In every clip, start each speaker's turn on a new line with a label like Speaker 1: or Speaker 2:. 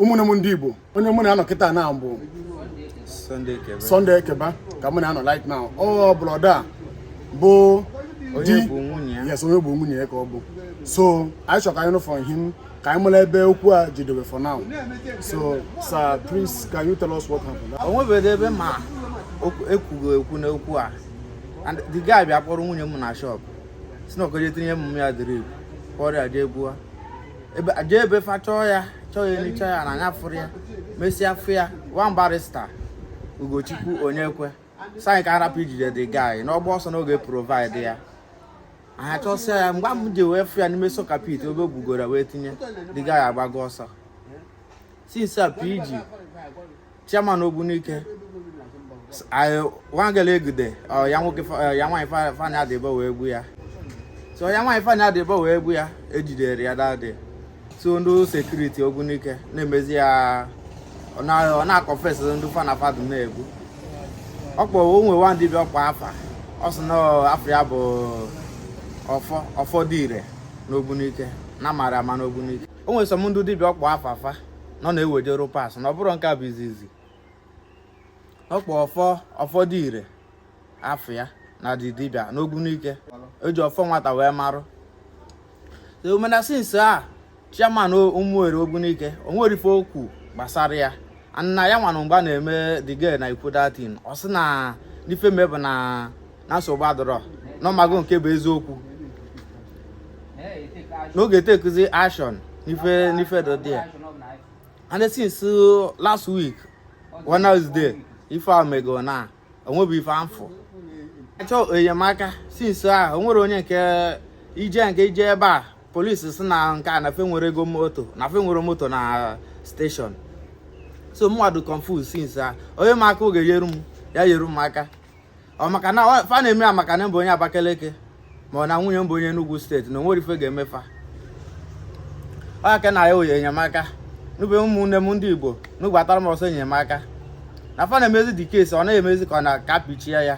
Speaker 1: ụmụnne m ndị Igbo onye mụ na ya nọ kịtaa bụ Sunday Ekebe ka mụ na ya nọ right now ọ brother bụ di yes onye bụ nwunye ya ka ọ bụ so anyị chọrọ ka anyị nụ from him ka anyị mara ebe okwu a jidere for now so sir please can you tell us what happened? o nwebeghị ebe m na-ekwughị okwu n'okwu a and the guy bịa kpọrọ nwunye m na shop sị na ọ ka-eje tinyere ya drip kpọrọ ya jee gbuo jee ebe fa chọọ ya chọọ ya anyị chọọ ya na anyị afụrọ ya mesịa fụ ya one barrister Ugochukwu Onyekwe sị anyị ka a rapụ ijide the guy na ọ gbaa ọsọ na ọ ga-e provide ya anyị achọsịa ya mgbe m ji wee fụ ya n'ime soakaway pit ebe o gbugoro wee tinye the guy agbago ọsọ since a PG chairman Ogbunike nwa girl e jide ya nwa fa na ya dị abụọ wee gbuo ya so ya nwa fa na ya dị abụọ wee gbuo ya e jidere ya that day so ndị security Ogbunike na-emezi ya ọ na-a confess ndị fa na fa dụ na-egbu ọ kpọrọ o nwe nwa dibịa ọ kpọ afa ọ sị na afa ya bụ ọfọ ọfọ dị ire n'Ogbunike na mara ama n'Ogbunike o nwere some ndị dibịa ọ kpọ afa fa na ọ na-ewejere parts na ọ bụrụ nke a bụ izizi ọ kpọ ọfọ ọfọ dị ire afa ya na ọ dị dibịa n'Ogbunike e ji ọfọ nwata wee marụ o mee na since a chairman Umueri Ogbunike onwerọ ife o kwu gbasara ya na ya nwa nọ mgbe a na-eme the girl na-ekwu that thing ọ sị na n'ife me bụ na na nsogbu adịrọ na ọ mago nke bụ eziokwu na ọ ga-e take action n'ife n'ife dị ụdị a and since uh, last week Wednesday ife a mego na onwebe ife a fụ achọ m enyemaka since a onwerọ onye nke ije nke ije ebe a police sị na nke a na fa enwerọ ego moto na fa enwerọ moto na station so mụ nwa adị confuse since a onye ma aka ọ ga-eyeru m ya yeru m aka ọ maka na fa na-eme ya maka na m bụ onye Abakaliki ma ọ na nwunye m bụ onye Enugu state na onwerọ ife ga-eme fa ọ ka m na-ayọ enyemaka n'ebe ụmụnne m ndị Igbo nọ gbatara m ọsọ enyemaka na fa na-emezi the case ọ na-emezi ka ọ na ka a kpuchie ya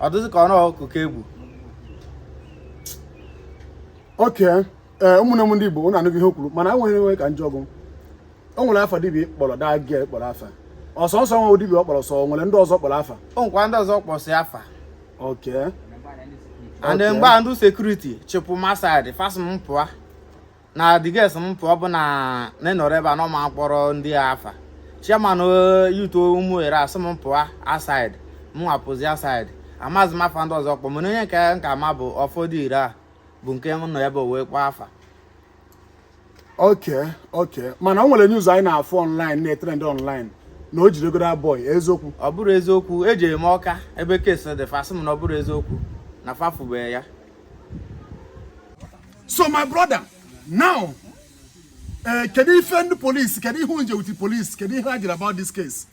Speaker 1: ọ dịzi ka ọ na ọkụkọ ka e gbu okay ee eh, ụmụnne m ndị Igbo ụnụ anụgo ihe o kwuru mana enwe ihe ka m jụọ gị o nwere afa dibịa i kpọrọ that girl kpọrọ afa ọ sọọsọ nwa dibịa ọ kpọrọ so o nwere ndị ọzọ ọ kpọrọ afa o nwekwa ndị ọzọ ọ kpọsị afa okay and mgbe a ndị security chụpụ m aside fa sị m pụọ na the girl sị m pụọ bụ na m nọrọ ebe a na ọ ma akpọrọ ndị afa chairman eh, youth Umueri asị m pụọ aside mụ nwa apụzi aside amazi m afa ndị ọzọ ọ kpọ mana onye nke a m ma bụ ọfọ dị ire a bụ nke m nọ ebe o wee kpọọ fa okay okay mana o nwere news anyị na-afụ online na-etrend online na e jidego the boy eziokwu ọ bụrọ eziokwu ejee m ọka ebe case dị fa sị m na ọ bụrọ eziokwu na fa afụbe ya so my brother now eh, kedu ife ndị polisi kedu ihe unu je with the police kedu ihe ha jiri about this case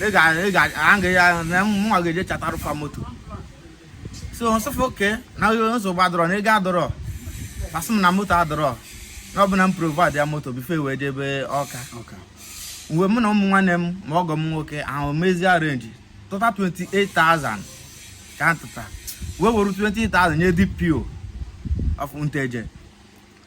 Speaker 1: ị ga-aga ya na mụwa ga-eje chatarụ fa moto so nsị fa okay na nsogbu adọrọ na ego adọrọ asị m na moto adọrọ na ọ bụ na m provide ya moto before e wee jebe ọka mgbe mụ na ụmụ nwanne m ma ọgọ m nwoke ahụ mezie arrange tụta 28,000 ka a tụta wee were 20,000 nye dpo of nteje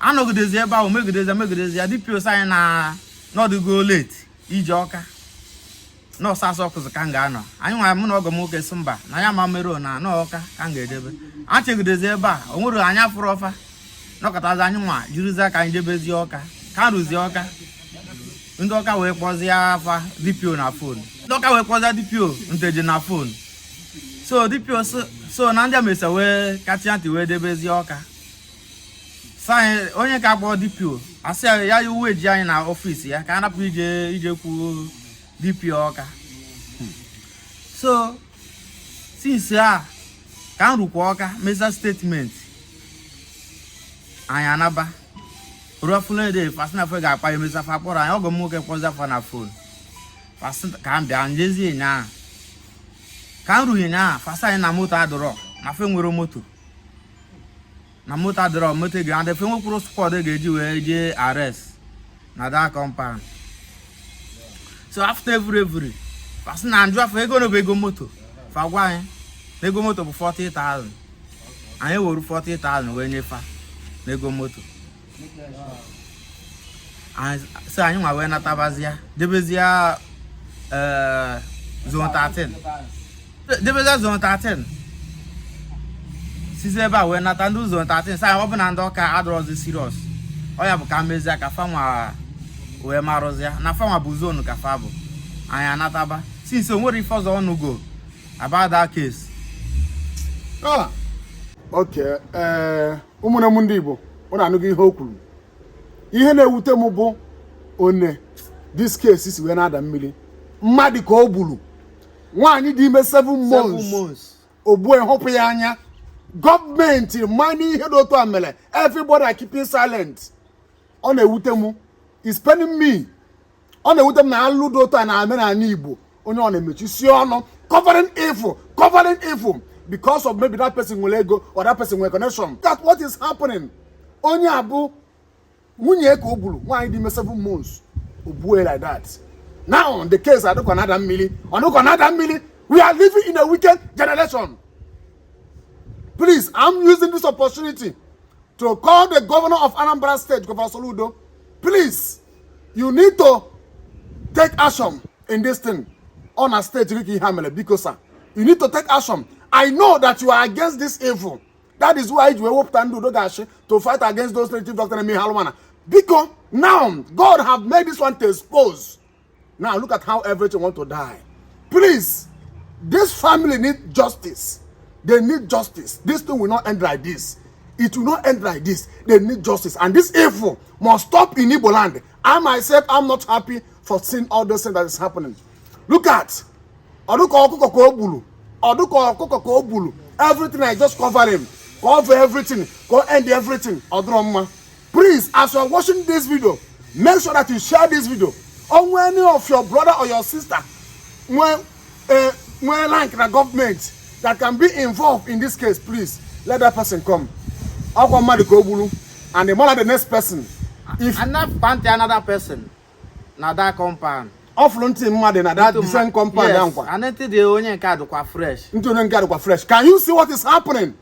Speaker 1: anọgidezi ebe ahụ megidezi megidezi ya dpo sị anyị na ọ dịgo late ije ọka nọọsụ asọ kụzụ ka m ga-anọ anyị nwa mụ na ọgọ m nwoke sị mba na ya ma meruo na anọ ọka ka m ga-edebe achegidezi ebe a o nwere anya fụrụ ọfa nọkọtazi anyị nwa jirizi ka anyị jebezi ọka ka m ruzie ọka ndị ọka wee kpọzie afa dpo na fon ndị ọka wee kpọzie dpo nteje na fon so dpo so na ndị a mesịa wee kacha ntị wee jebezie ọka anyị onye ka akpọ dpo asị ya ya wee eji anyị na office ya ka a napụ ije ijekwu dpo ọka so since a ka m rukwa ọka mezia statement anyị anaba ruafunede fa sị na fa ga-akpọ anyị mesịa fa akpọrọ anyị ọgọ m nwoke kpọzia fa na fon ka m bịa jezie ụnyaa ka m ru ụnyaa fa sị anyị na moto adọrọ na fa enwerọ moto na moto adịrọ moto ga-adị fa nwekwuru squad ga-eji wee jee arrest na that compound so after every every fa sị na njụa fa ego one bụ ego moto fa gwa anyị na ego moto bụ 40,000 anyị were 40,000 wee nye fa n'ego moto so anyị nwa wee natabazia jebezie eh, zone 13 jebezie zone 13 sizi ebe a wee nata ndị zone 13 sị ọ bụ na ndị ọka adọrọzi serious ọ ya bụ ka e mezie ka fanwa wee marụzia na fanwa bụ zone ka fa bụ anyị anataba since o nwerọ ife ọzọ a nụgo about that case. Ah. Okay. Uh... ụmụnne m ndị Igbo unu anụgo ihe o kwuru ihe na-ewute m bụ one this case si wee na-ada mmiri mmadụ ka o gburu nwaanyị dị ime seven months o gbue ghụpụ ya anya gọọmenti manụ ihe dị otu a mere everybody keeping silent ọ na-ewute m it's paining me ọ na-ewute m na alụ dị otu a na-eme n'ala igbo onye ọbụna emechisie ọnụ covering evil covering evil because of maybe that person nwere ego or that person nwere connection that's what is happening onye a bụ nwunye ya ka o gburu nwaanyị dị ime seven months o gbue like that now the case a dịka ọ na-ada mmiri ọ dịka ọ na-ada mmiri we are living in a wicked generation please i'm using this opportunity to call the governor of anambra state governor soludo please you need to take action in this thing ọ na state gị ka ihe a mere biko sir you need to take action i know that you are against this evil that is why i ji wee wepụta ndị udo ga-achị to fight against those native doctor na-eme ihe alụ mana biko now god have made this one to expose Now look at how everything want to die. Please, this family need justice. They need justice. This thing will not end like this. It will not end like this. They need justice. And this evil must stop in Igbo land. I myself, I'm not happy for seeing all those things that is happening. Look at ọdụkọ ọkụkọ ka o gburu ọdụkọ ọkụkọ ka o gburu everything I just cover him cover everything go end everything ọdụrụ mma Please, as you are watching this video, make sure that you share this video. Or any of your brother or your sister, when, uh, when like the government that can be involved in this case, please let that person come. I'll come mad go bulu, and the mother the next person. If another party, another person, now that compound. ọfụrụ ntị mmadụ na that different compound yes. nkwa and ntị dị onye nke a dịkwa fresh ntị onye nke a dịkwa fresh can you see what is happening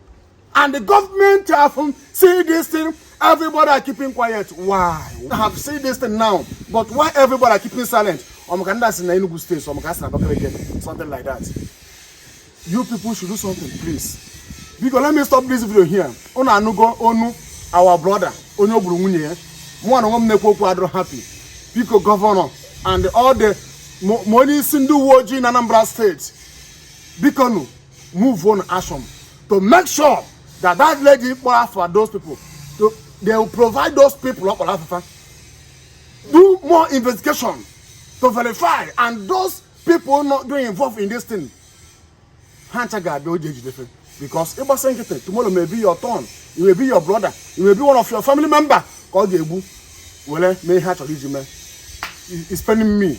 Speaker 1: And the government have um, seen this thing, everybody are keeping quiet. Why? Have seen this thing now, but why everybody are keeping silent? Ọmọka ndị asị na Enugu steeti, ọmọka asị na Abakaliki, something like that. You people should do something, please. Biko, let me stop this video here. Unu anụgo onu our brother, onye o gburu nwunye ya. Mụ na onwe m na-ekwu okwu adịrọ happy. Biko, gọvanọ and all the ma onye isi ndị uwe ojii na Anambra steeti, biko nụ move on action to make sure that that lady kpọrọ afa those people to they will provide those people ọ kpọrọ afafa do more investigation to verify and those people not doing involved in this thing ha ncha ga-abịa oji ejidefe because ịgbasa nkịtị tomorrow may be your turn it may be your brother it may be one of your family member ka ọ ga-egbu were mee ihe a chọrọ iji mee It's spending me